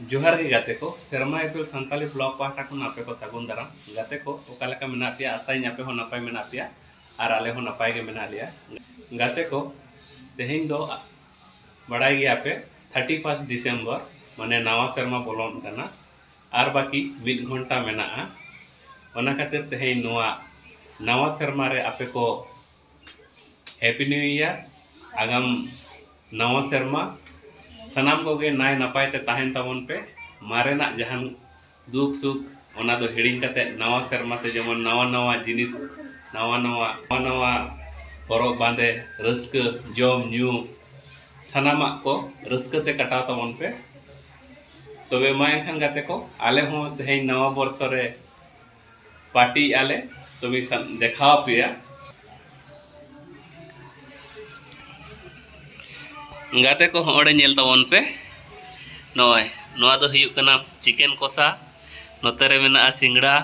ᱡᱚᱦᱟᱨ ᱜᱮ ᱜᱟᱛᱮ ᱠᱚ ᱥᱮᱨᱢᱟ ᱮᱯᱮᱞ ᱥᱟᱱᱛᱟᱞᱤ ᱵᱞᱚᱜ ᱯᱟᱦᱴᱟ ᱠᱷᱚᱱ ᱟᱯᱮ ᱠᱚ ᱥᱟᱹᱜᱩᱱ ᱫᱟᱨᱟᱢ ᱜᱟᱛᱮ ᱠᱚ ᱚᱠᱟ ᱞᱮᱠᱟ ᱢᱮᱱᱟᱜ ᱯᱮᱭᱟ ᱟᱥᱟᱭᱟᱹᱧ ᱟᱯᱮ ᱦᱚᱸ ᱱᱟᱯᱟᱭ ᱢᱮᱱᱟᱜ ᱯᱮᱭᱟ ᱟᱨ ᱟᱞᱮ ᱦᱚᱸ ᱱᱟᱯᱟᱭ ᱜᱮ ᱢᱮᱱᱟᱜ ᱞᱮᱭᱟ ᱜᱟᱛᱮ ᱠᱚ ᱛᱮᱦᱮᱧ ᱫᱚ ᱵᱟᱲᱟᱭ ᱜᱮᱭᱟ ᱯᱮ ᱛᱷᱟᱨᱴᱤ ᱯᱷᱟᱨᱥᱴ ᱰᱤᱥᱮᱢᱵᱚᱨ ᱢᱟᱱᱮ ᱱᱟᱣᱟ ᱥᱮᱨᱢᱟ ᱵᱚᱞᱚᱱ ᱠᱟᱱᱟ ᱟᱨ ᱵᱟᱹᱠᱤ ᱢᱤᱫ ᱜᱷᱚᱱᱴᱟ ᱢᱮᱱᱟᱜᱼᱟ ᱚᱱᱟ ᱠᱷᱟᱹᱛᱤᱨ ᱛᱮᱦᱮᱧ ᱱᱚᱣᱟ ᱱᱟᱣᱟ ᱥᱮᱨᱢᱟ ᱨᱮ ᱟᱯᱮ ᱠᱚ ᱦᱮᱯᱤ ᱱᱤᱭᱩ ᱤᱭᱟᱨ ᱟᱜᱟᱢ ᱱᱟᱣᱟ ᱥᱮᱨᱢᱟ ᱥᱟᱱᱟᱢ ᱠᱚᱜᱮ ᱱᱟᱭ ᱱᱟᱯᱟᱭ ᱛᱮ ᱛᱟᱦᱮᱱ ᱛᱟᱵᱚᱱ ᱯᱮ ᱢᱟᱨᱮᱱᱟᱜ ᱡᱟᱦᱟᱱ ᱫᱩᱠ ᱥᱩᱠ ᱚᱱᱟ ᱫᱚ ᱦᱤᱲᱤᱧ ᱠᱟᱛᱮ ᱱᱟᱣᱟ ᱥᱮᱨᱢᱟ ᱛᱮ ᱡᱮᱢᱚᱱ ᱱᱟᱣᱟ ᱱᱟᱣᱟ ᱡᱤᱱᱤᱥ ᱱᱟᱣᱟ ᱱᱟᱣᱟ ᱱᱟᱣᱟ ᱱᱟᱣᱟ ᱦᱚᱨᱚᱜ ᱵᱟᱸᱫᱮ ᱨᱟᱹᱥᱠᱟᱹ ᱡᱚᱢ ᱧᱩ ᱥᱟᱱᱟᱢᱟᱜ ᱠᱚ ᱨᱟᱹᱥᱠᱟᱹ ᱛᱮ ᱠᱟᱴᱟᱣ ᱛᱟᱵᱚᱱ ᱯᱮ ᱛᱚᱵᱮ ᱢᱟ ᱮᱱᱠᱷᱟᱱ ᱜᱟᱛᱮ ᱠᱚ ᱟᱞᱮ ᱦᱚᱸ ᱛᱮᱦᱮᱧ ᱱᱟᱣᱟ ᱵᱚᱨᱥᱚ ᱨᱮ ᱯᱟᱨᱴᱤ ᱮᱜᱼᱟ ᱞᱮ ᱛᱚᱵᱮ ᱫᱮᱠᱷᱟᱣ ᱟᱯᱮᱭᱟ ᱜᱟᱛᱮ ᱠᱚ ᱦᱚᱸᱜᱼᱚᱸᱰᱮ ᱧᱮᱞ ᱛᱟᱵᱚᱱ ᱯᱮ ᱱᱚᱜᱼᱚᱭ ᱱᱚᱣᱟ ᱫᱚ ᱦᱩᱭᱩᱜ ᱠᱟᱱᱟ ᱪᱤᱠᱮᱱ ᱠᱚᱥᱟ ᱱᱚᱛᱮ ᱨᱮ ᱢᱮᱱᱟᱜᱼᱟ ᱥᱤᱝᱲᱟ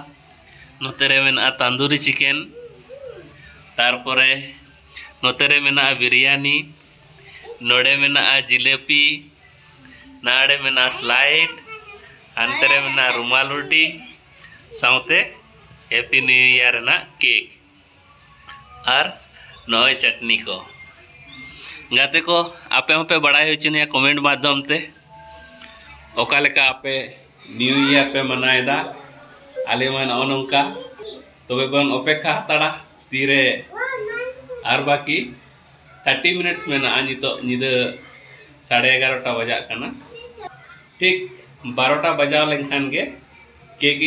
ᱱᱚᱛᱮ ᱨᱮ ᱢᱮᱱᱟᱜᱼᱟ ᱛᱟᱱᱫᱩᱨᱤ ᱪᱤᱠᱮᱱ ᱛᱟᱨᱯᱚᱨᱮ ᱱᱚᱛᱮ ᱨᱮ ᱢᱮᱱᱟᱜᱼᱟ ᱵᱤᱨᱭᱟᱱᱤ ᱱᱚᱰᱮ ᱢᱮᱱᱟᱜᱼᱟ ᱡᱤᱞᱮᱯᱤ ᱱᱟᱰᱮ ᱢᱮᱱᱟᱜᱼᱟ ᱥᱞᱟᱭᱤᱰ ᱦᱟᱱᱛᱮ ᱨᱮ ᱢᱮᱱᱟᱜᱼᱟ ᱨᱩᱢᱟᱞ ᱨᱩᱴᱤ ᱥᱟᱶᱛᱮ ᱦᱮᱯᱤ ᱱᱤᱭᱩ ᱤᱭᱟᱨ ᱨᱮᱱᱟᱜ ᱠᱮᱠ ᱟᱨ ᱱᱚᱜᱼᱚᱭ ᱪᱟᱴᱱᱤ ᱠᱚ ᱜᱟᱛᱮ ᱠᱚ ᱟᱯᱮ ᱦᱚᱸᱯᱮ ᱵᱟᱲᱟᱭ ᱦᱚᱪᱚᱱᱤᱭᱟ ᱠᱚᱢᱮᱱᱴ ᱢᱟᱫᱽᱫᱷᱚᱢ ᱛᱮ ᱚᱠᱟ ᱞᱮᱠᱟ ᱟᱯᱮ ᱱᱤᱭᱩ ᱤᱭᱟᱨ ᱯᱮ ᱢᱟᱱᱟᱣᱮᱫᱟ ᱟᱞᱮ ᱢᱟ ᱱᱚᱜᱼᱚ ᱱᱚᱝᱠᱟ ᱛᱚᱵᱮ ᱵᱚᱱ ᱚᱯᱮᱠᱷᱟ ᱦᱟᱛᱟᱲᱟ ᱛᱤᱨᱮ ᱟᱨ ᱵᱟᱹᱠᱤ ᱛᱷᱟᱨᱴᱤ ᱢᱤᱱᱤᱴᱥ ᱢᱮᱱᱟᱜᱼᱟ ᱱᱤᱛᱚᱜ ᱧᱤᱫᱟᱹ ᱥᱟᱲᱮ ᱮᱜᱟᱨᱚᱴᱟ ᱵᱟᱡᱟᱜ ᱠᱟᱱᱟ ᱴᱷᱤᱠ ᱵᱟᱨᱚᱴᱟ ᱵᱟᱡᱟᱣ ᱞᱮᱱᱠᱷᱟᱱ ᱜᱮ ᱠᱮᱠ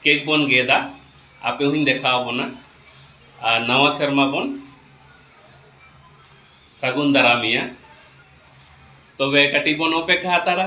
ᱠᱮᱠ ᱵᱚᱱ ᱜᱮᱫᱟ ᱟᱯᱮ ᱦᱚᱧ ᱫᱮᱠᱷᱟᱣ ᱵᱚᱱᱟ ᱟᱨ ᱱᱟᱣᱟ ᱥᱮᱨᱢᱟ ᱵᱚᱱ ᱥᱟᱹᱜᱩᱱ ᱫᱟᱨᱟᱢᱮᱭᱟ ᱛᱚᱵᱮ ᱠᱟᱹᱴᱤᱡ ᱵᱚᱱ ᱚᱯᱮᱠᱠᱷᱟ ᱦᱟᱛᱟᱲᱟ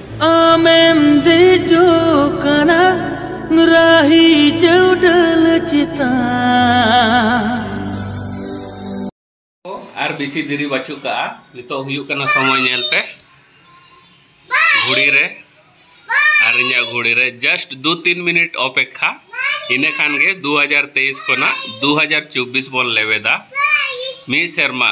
ᱟᱢᱮᱢ ᱫᱮᱡᱚᱜ ᱠᱟᱱᱟ ᱨᱟᱦᱤ ᱪᱟᱹᱣᱰᱟᱹᱞ ᱪᱮᱛᱟᱱ ᱟᱨ ᱵᱮᱥᱤ ᱫᱮᱨᱤ ᱵᱟᱹᱪᱩᱜ ᱠᱟᱜᱼᱟ ᱱᱤᱛᱚᱜ ᱦᱩᱭᱩᱜ ᱠᱟᱱᱟ ᱥᱚᱢᱚᱭ ᱧᱮᱞ ᱯᱮ ᱜᱷᱩᱲᱤ ᱨᱮ ᱟᱨ ᱤᱧᱟᱹᱜ ᱜᱷᱩᱲᱤ ᱨᱮ ᱡᱟᱥᱴ ᱫᱩ ᱛᱤᱱ ᱢᱤᱱᱤᱴ ᱚᱯᱮᱠᱷᱟ ᱤᱱᱟᱹ ᱠᱷᱟᱱ ᱜᱮ ᱫᱩ ᱦᱟᱡᱟᱨ ᱛᱮᱭᱤᱥ ᱠᱷᱚᱱᱟᱜ ᱫᱩ ᱦᱟᱡᱟᱨ ᱪᱚᱵᱽᱵᱤᱥ ᱵᱚᱱ ᱞᱮᱵᱮᱫᱟ ᱢᱤᱫ ᱥᱮᱨᱢᱟ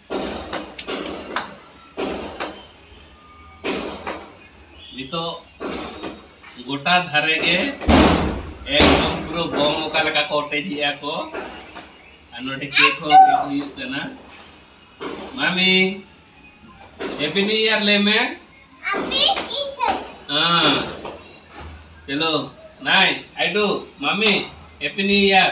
ᱱᱤᱛᱚᱜ ᱜᱚᱴᱟ ᱫᱷᱟᱨᱮ ᱜᱮ ᱮᱠᱫᱚᱢ ᱯᱩᱨᱟᱹ ᱵᱚᱢ ᱚᱠᱟ ᱞᱮᱠᱟ ᱠᱚ ᱚᱴᱮᱡᱮᱜᱼᱟ ᱠᱚ ᱟᱨ ᱱᱚᱰᱮ ᱠᱮᱠ ᱦᱚᱸ ᱦᱩᱭᱩᱜ ᱠᱟᱱᱟ ᱢᱟᱢᱤ ᱦᱮᱯᱤ ᱱᱤᱭᱩ ᱤᱭᱟᱨ ᱞᱟᱹᱭ ᱢᱮ ᱦᱮᱸ ᱪᱚᱞᱚ ᱱᱟᱭ ᱟᱭᱰᱩ mummy happy new year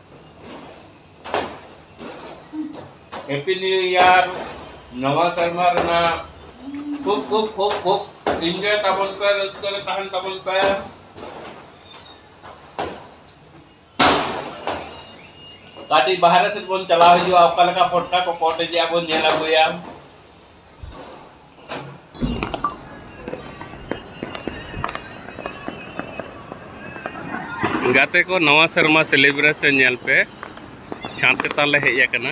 happy new year ᱱᱟᱣᱟ ᱥᱮᱨᱢᱟ ᱨᱮᱱᱟᱜ ᱠᱷᱩᱵ ᱠᱷᱩᱵ ᱠᱷᱩᱵ ᱠᱷᱩᱵ ᱤᱱᱡᱚᱭ ᱛᱟᱵᱚᱱ ᱯᱮ ᱨᱟᱹᱥᱠᱟᱹ ᱨᱮ ᱛᱟᱦᱮᱱ ᱛᱟᱵᱚᱱ ᱯᱮ ᱠᱟᱹᱴᱤᱡ ᱵᱟᱦᱨᱮ ᱥᱮᱫ ᱵᱚᱱ ᱪᱟᱞᱟᱣ ᱦᱤᱡᱩᱜᱼᱟ ᱚᱠᱟ ᱞᱮᱠᱟ ᱯᱷᱚᱴᱠᱟ ᱠᱚ ᱠᱚᱴᱮᱡᱮᱜᱼᱟ ᱵᱚᱱ ᱧᱮᱞ ᱟᱹᱜᱩᱭᱟ ᱜᱟᱛᱮ ᱠᱚ ᱱᱟᱣᱟ ᱥᱮᱨᱢᱟ ᱥᱮᱞᱮᱵᱨᱮᱥᱚᱱ ᱧᱮᱞ ᱯᱮ ᱪᱷᱟᱸᱫ ᱪᱮᱛᱟᱱ ᱞᱮ ᱦᱮᱡ ᱟᱠᱟᱱᱟ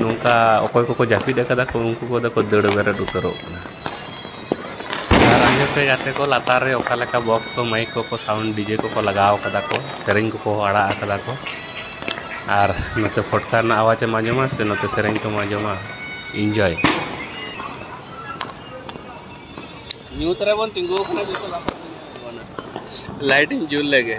ᱱᱚᱝᱠᱟ ᱚᱠᱚᱭ ᱠᱚᱠᱚ ᱡᱟᱹᱯᱤᱫ ᱟᱠᱟᱫᱟ ᱠᱚ ᱩᱱᱠᱩ ᱠᱚᱫᱚ ᱠᱚ ᱫᱟᱹᱲ ᱵᱮᱨᱮᱫ ᱩᱛᱟᱹᱨᱚᱜ ᱠᱟᱱᱟ ᱟᱨ ᱟᱸᱡᱚᱢ ᱯᱮ ᱜᱟᱛᱮ ᱠᱚ ᱞᱟᱛᱟᱨ ᱨᱮ ᱚᱠᱟ ᱞᱮᱠᱟ ᱵᱚᱠᱥ ᱠᱚ ᱢᱟᱹᱭᱤᱠ ᱠᱚᱠᱚ ᱥᱟᱣᱩᱱᱰ ᱰᱤᱡᱮ ᱠᱚᱠᱚ ᱞᱟᱜᱟᱣ ᱠᱟᱫᱟ ᱠᱚ ᱥᱮᱨᱮᱧ ᱠᱚᱠᱚ ᱟᱲᱟᱜ ᱠᱟᱫᱟ ᱠᱚ ᱟᱨ ᱱᱚᱛᱮ ᱯᱷᱚᱴᱠᱟ ᱨᱮᱱᱟᱜ ᱟᱣᱟᱡᱽ ᱮᱢ ᱟᱸᱡᱚᱢᱟ ᱥᱮ ᱱᱚᱛᱮ ᱥᱮᱨᱮᱧ ᱠᱚᱢ ᱟᱸᱡᱚᱢᱟ ᱤᱱᱡᱚᱭ ᱧᱩᱛ ᱨᱮᱵᱚᱱ ᱛᱤᱸᱜᱩ ᱟᱠᱟᱱᱟ ᱡᱚᱛᱚ ᱞᱟᱦᱟ ᱞᱟᱭᱤᱴ ᱤᱧ ᱡᱩᱞ ᱞᱮᱜᱮ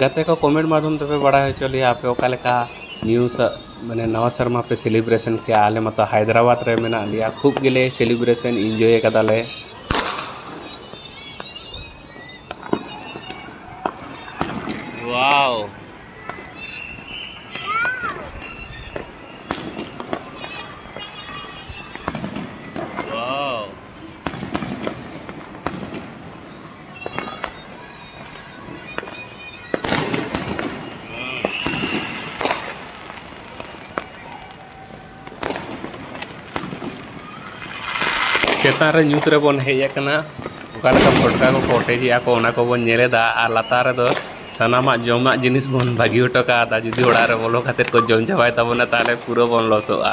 ᱜᱟᱛᱮ ᱠᱚ ᱠᱚᱢᱮᱱᱴ ᱢᱟᱫᱽᱫᱷᱚᱢ ᱛᱮᱯᱮ ᱵᱟᱲᱟᱭ ᱦᱚᱪᱚ ᱞᱮᱭᱟ ᱟᱯᱮ ᱚᱠᱟ ᱞᱮᱠᱟ ᱱᱤᱭᱩ ᱥᱟ ᱢᱟᱱᱮ ᱱᱟᱣᱟ ᱥᱮᱨᱢᱟ ᱯᱮ ᱥᱮᱞᱤᱵᱨᱮᱥᱮᱱ ᱠᱮᱜᱼᱟ ᱟᱞᱮ ᱢᱟᱛᱚ ᱦᱟᱭᱫᱨᱟᱵᱟᱫᱽ ᱨᱮ ᱢᱮᱱᱟᱜ ᱞᱮᱭᱟ ᱠᱷᱩᱵᱽ ᱜᱮᱞᱮ ᱥᱮᱞᱤᱵᱨᱮᱥᱮᱱ ᱤᱱᱡᱚᱭ ᱠᱟᱫᱟᱞᱮ ᱚᱣᱟᱣ ᱚᱣᱟᱣ ᱪᱮᱛᱟᱱ ᱨᱮ ᱧᱩᱛ ᱨᱮᱵᱚᱱ ᱦᱮᱡ ᱟᱠᱟᱱᱟ ᱚᱠᱟ ᱞᱮᱠᱟ ᱯᱷᱚᱴᱠᱟ ᱠᱚᱠᱚ ᱚᱴᱮᱡᱮᱜᱼᱟ ᱠᱚ ᱚᱱᱟ ᱠᱚᱵᱚᱱ ᱧᱮᱞᱮᱫᱟ ᱟᱨ ᱞᱟᱛᱟᱨ ᱨᱮᱫᱚ ᱥᱟᱱᱟᱢᱟᱜ ᱡᱚᱢᱟᱜ ᱡᱤᱱᱤᱥ ᱵᱚᱱ ᱵᱟᱹᱜᱤ ᱦᱚᱴᱚ ᱠᱟᱣᱫᱟ ᱡᱩᱫᱤ ᱚᱲᱟᱜ ᱨᱮ ᱵᱚᱞᱚ ᱠᱟᱛᱮᱫ ᱠᱚ ᱡᱚᱢ ᱪᱟᱵᱟᱭ ᱛᱟᱵᱚᱱᱟ ᱛᱟᱦᱚᱞᱮ ᱯᱩᱨᱟᱹ ᱵᱚᱱ ᱞᱚᱥᱚᱜᱼᱟ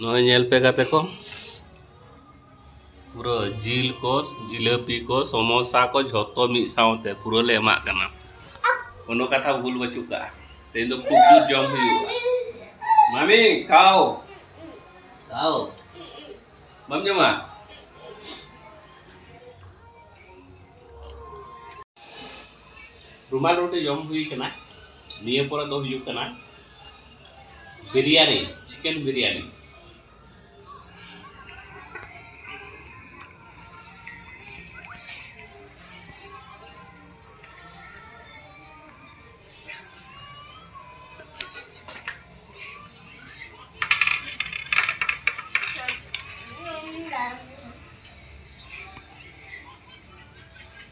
ᱱᱚᱜᱼᱚᱭ ᱧᱮᱞ ᱯᱮ ᱜᱟᱛᱮ ᱠᱚ ᱯᱩᱨᱟᱹ ᱡᱤᱞ ᱠᱚ ᱡᱤᱞᱟᱹᱯᱤ ᱠᱚ ᱥᱚᱢᱳᱥᱟ ᱠᱚ ᱡᱷᱚᱛᱚ ᱢᱤᱫ ᱥᱟᱶᱛᱮ ᱯᱩᱨᱟᱹ ᱞᱮ ᱮᱢᱟᱜ ᱠᱟᱱᱟ ᱠᱳᱱᱳ ᱠᱟᱛᱷᱟ ᱵᱷᱩᱞ ᱵᱟᱹᱪᱩᱜ ᱠᱟᱜᱼᱟ ᱛᱮᱦᱮᱧ ᱫᱚ ᱠᱷᱩᱵ ᱡᱩᱛ ᱡᱚᱢ ᱦᱩᱭᱩᱜᱼᱟ ᱢᱟᱢᱤ ᱠᱷᱟᱣ ᱠᱷᱟᱣ ᱵᱟᱢ ᱡᱚᱢᱟ ᱨᱩᱢᱟᱞ ᱨᱩᱴᱤ ᱡᱚᱢ ᱦᱩᱭ ᱠᱟᱱᱟ ᱱᱤᱭᱟᱹ ᱯᱚᱨᱮ ᱫᱚ ᱦᱩᱭᱩᱜ ᱠᱟᱱᱟ ᱵᱤᱨᱤᱭᱟᱱᱤ ᱪᱤᱠᱮᱱ ᱵᱤᱨᱤᱭᱟᱱᱤ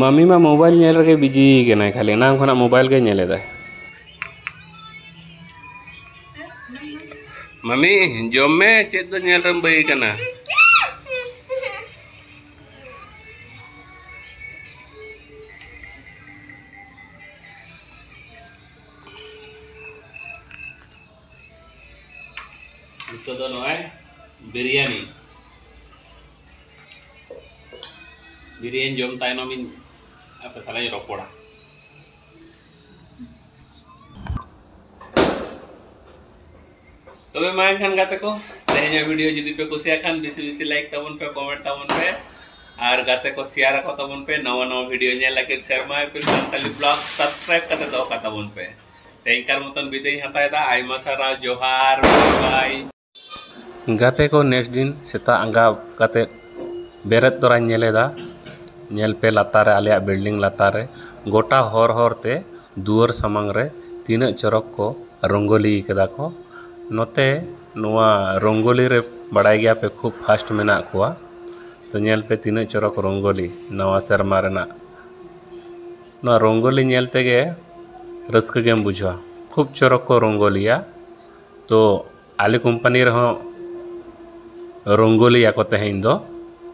ᱢᱟᱹᱢᱤ ᱢᱟ ᱢᱳᱵᱟᱭᱤᱞ ᱧᱮᱞ ᱨᱮᱜᱮ ᱵᱤᱡᱤ ᱠᱟᱱᱟᱭ ᱠᱷᱟᱹᱞᱤ ᱮᱱᱟᱝ ᱠᱷᱚᱱᱟᱜ ᱢᱳᱵᱟᱭᱤᱞ ᱜᱮ ᱧᱮᱞᱮᱫᱟᱭ ᱢᱟᱹᱢᱤ ᱡᱚᱢ ᱢᱮ ᱪᱮᱫ ᱫᱚ ᱧᱮᱞ ᱨᱮᱢ ᱵᱟᱹᱭ ᱠᱟᱱᱟ ᱱᱤᱛᱚᱜ ᱫᱚ ᱱᱚᱜᱼᱚᱭ ᱵᱤᱨᱭᱟᱱᱤ ᱵᱤᱨᱭᱟᱱᱤ ᱡᱚᱢ ᱛᱟᱭᱱᱚᱢ ᱤᱧ ᱟᱯᱮ ᱥᱟᱞᱟᱜ ᱤᱧ ᱨᱚᱯᱚᱲᱟ ᱛᱚᱵᱮ ᱢᱟ ᱮᱱᱠᱷᱟᱱ ᱜᱟᱛᱮ ᱠᱚ ᱛᱮᱦᱮᱧᱟᱜ ᱵᱷᱤᱰᱤᱭᱳ ᱡᱩᱫᱤ ᱯᱮ ᱠᱩᱥᱤᱭᱟᱜ ᱠᱷᱟᱱ ᱵᱮᱥᱤ ᱵᱮᱥᱤ ᱞᱟᱭᱤᱠ ᱛᱟᱵᱚᱱ ᱯᱮ ᱠᱚᱢᱮᱱᱴ ᱛᱟᱵᱚᱱ ᱯᱮ ᱟᱨ ᱜᱟᱛᱮ ᱠᱚ ᱥᱮᱭᱟᱨ ᱟᱠᱚ ᱛᱟᱵᱚᱱ ᱯᱮ ᱱᱟᱣᱟ ᱱᱟᱣᱟ ᱵᱷᱤᱰᱤᱭᱳ ᱧᱮᱞ ᱞᱟᱹᱜᱤᱫ ᱥᱮᱨᱢᱟ ᱮᱯᱤᱞ ᱥᱟᱱᱛᱟᱞᱤ ᱵᱞᱚᱜ ᱥᱟᱵᱥᱠᱨᱟᱭᱤᱵ ᱠᱟᱛᱮ ᱫᱚᱦᱚ ᱠᱟᱛᱟᱵᱚᱱ ᱯᱮ ᱛᱮᱦᱮᱧ ᱠᱟᱨ ᱢᱚᱛᱚᱱ ᱵᱤᱫᱟᱹᱭ ᱦᱟᱛᱟᱣᱮᱫᱟ ᱟᱭᱢᱟ ᱥᱟᱨᱦᱟᱣ ᱡᱚᱦᱟᱨ ᱵᱟᱭ ᱜᱟᱛᱮ ᱠᱚ ᱱᱮᱠᱥᱴ ᱫᱤᱱ ᱥᱮᱛᱟᱜ ᱟᱸᱜᱟ ᱠᱟᱛᱮᱫ ᱵᱮᱨᱮᱫ ᱛᱚᱨᱟᱧ ᱧᱮᱞ ᱮᱫᱟ ᱧᱮᱞ ᱯᱮ ᱞᱟᱛᱟᱨ ᱨᱮ ᱟᱞᱮᱭᱟᱜ ᱵᱤᱞᱰᱤᱝ ᱞᱟᱛᱟᱨ ᱨᱮ ᱜᱚᱴᱟ ᱦᱚᱨ ᱦᱚᱨ ᱛᱮ ᱫᱩᱣᱟᱹᱨ ᱥᱟᱢᱟᱝ ᱨᱮ ᱛᱤᱱᱟᱹᱜ ᱪᱚᱨᱚᱠ ᱠᱚ ᱨᱚᱝᱜᱚᱞᱤ ᱠᱟᱫᱟ ᱠᱚ ᱱᱚᱛᱮ ᱱᱚᱣᱟ ᱨᱚᱝᱜᱚᱞᱤ ᱨᱮ ᱵᱟᱲᱟᱭ ᱜᱮᱭᱟ ᱯᱮ ᱠᱷᱩᱵᱽ ᱯᱷᱟᱥᱴ ᱢᱮᱱᱟᱜ ᱠᱚᱣᱟ ᱛᱚ ᱧᱮᱞ ᱯᱮ ᱛᱤᱱᱟᱹᱜ ᱪᱚᱨᱚᱠ ᱨᱚᱝᱜᱚᱞᱤ ᱱᱟᱣᱟ ᱥᱮᱨᱢᱟ ᱨᱮᱱᱟᱜ ᱱᱚᱣᱟ ᱨᱚᱝᱜᱚᱞᱤ ᱧᱮᱞ ᱛᱮᱜᱮ ᱨᱟᱹᱥᱠᱟᱹ ᱜᱮᱢ ᱵᱩᱡᱷᱟᱹᱣᱟ ᱠᱷᱩᱵᱽ ᱪᱚᱨᱚᱠ ᱠᱚ ᱨᱚᱝᱜᱚᱞᱤᱭᱟ ᱛᱚ ᱟᱞᱮ ᱠᱳᱢᱯᱟᱱᱤ ᱨᱮᱦᱚᱸ ᱨᱚᱝᱜᱳᱞᱤᱭᱟᱠᱚ ᱛᱮᱦᱮᱧ ᱫᱚ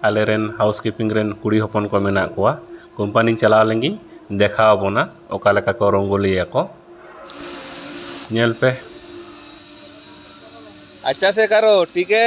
ᱟᱞᱮ ᱨᱮᱱ ᱦᱟᱣᱩᱥ ᱠᱤᱯᱤᱝ ᱨᱮᱱ ᱠᱩᱲᱤ ᱦᱚᱯᱚᱱ ᱠᱚ ᱢᱮᱱᱟᱜ ᱠᱚᱣᱟ ᱠᱳᱢᱯᱟᱱᱤᱧ ᱪᱟᱞᱟᱣ ᱞᱮᱱ ᱜᱤᱧ ᱫᱮᱠᱷᱟᱣ ᱟᱵᱚᱱᱟ ᱚᱠᱟ ᱞᱮᱠᱟ ᱠᱚ ᱨᱚᱝᱜᱳᱞᱤᱭᱟᱠᱚ ᱧᱮᱞ ᱯᱮ ᱟᱪᱪᱷᱟ ᱥᱮ ᱠᱟᱨᱳ ᱴᱷᱤᱠ ᱦᱮ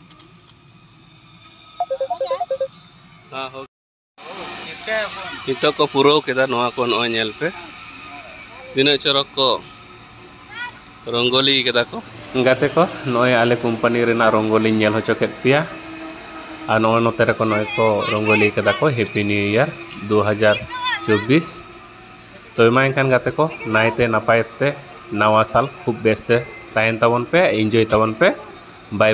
ᱱᱤᱛᱚᱜ ᱠᱚ ᱯᱩᱨᱟᱹᱣ ᱠᱮᱫᱟ ᱱᱚᱣᱟ ᱠᱚ ᱱᱚᱜᱼᱚᱭ ᱧᱮᱞ ᱯᱮ ᱛᱤᱱᱟᱹᱜ ᱪᱚᱨᱚᱠ ᱠᱚ ᱨᱚᱝᱜᱚᱞᱤ ᱠᱮᱫᱟ ᱠᱚ ᱜᱟᱛᱮ ᱠᱚ ᱱᱚᱜᱼᱚᱭ ᱟᱞᱮ ᱠᱳᱢᱯᱟᱱᱤ ᱨᱮᱱᱟᱜ ᱨᱚᱝᱜᱚᱞᱤᱧ ᱧᱮᱞ ᱦᱚᱪᱚ ᱠᱮᱫ ᱯᱮᱭᱟ ᱟᱨ ᱱᱚᱜᱼᱚᱭ ᱱᱚᱛᱮ ᱨᱮᱠᱚ ᱱᱚᱜᱼᱚᱭ ᱠᱚ ᱨᱚᱝᱜᱚᱞᱤ ᱠᱮᱫᱟ ᱠᱚ ᱦᱮᱯᱤ ᱱᱤᱭᱩ ᱤᱭᱟᱨ ᱫᱩ ᱦᱟᱡᱟᱨ ᱪᱚᱵᱵᱤᱥ ᱛᱚ ᱢᱟ ᱮᱱᱠᱷᱟᱱ ᱜᱟᱛᱮ ᱠᱚ ᱱᱟᱭᱛᱮ ᱱᱟᱯᱟᱭ ᱛᱮ ᱱᱟᱣᱟ ᱥᱟᱞ ᱠᱷᱩᱵ ᱵᱮᱥᱛᱮ ᱛᱟᱦᱮᱱ ᱛᱟᱵᱚᱱ ᱯᱮ ᱤᱱᱡᱚᱭ ᱛᱟᱵᱚᱱ ᱯᱮ ᱵᱟᱭ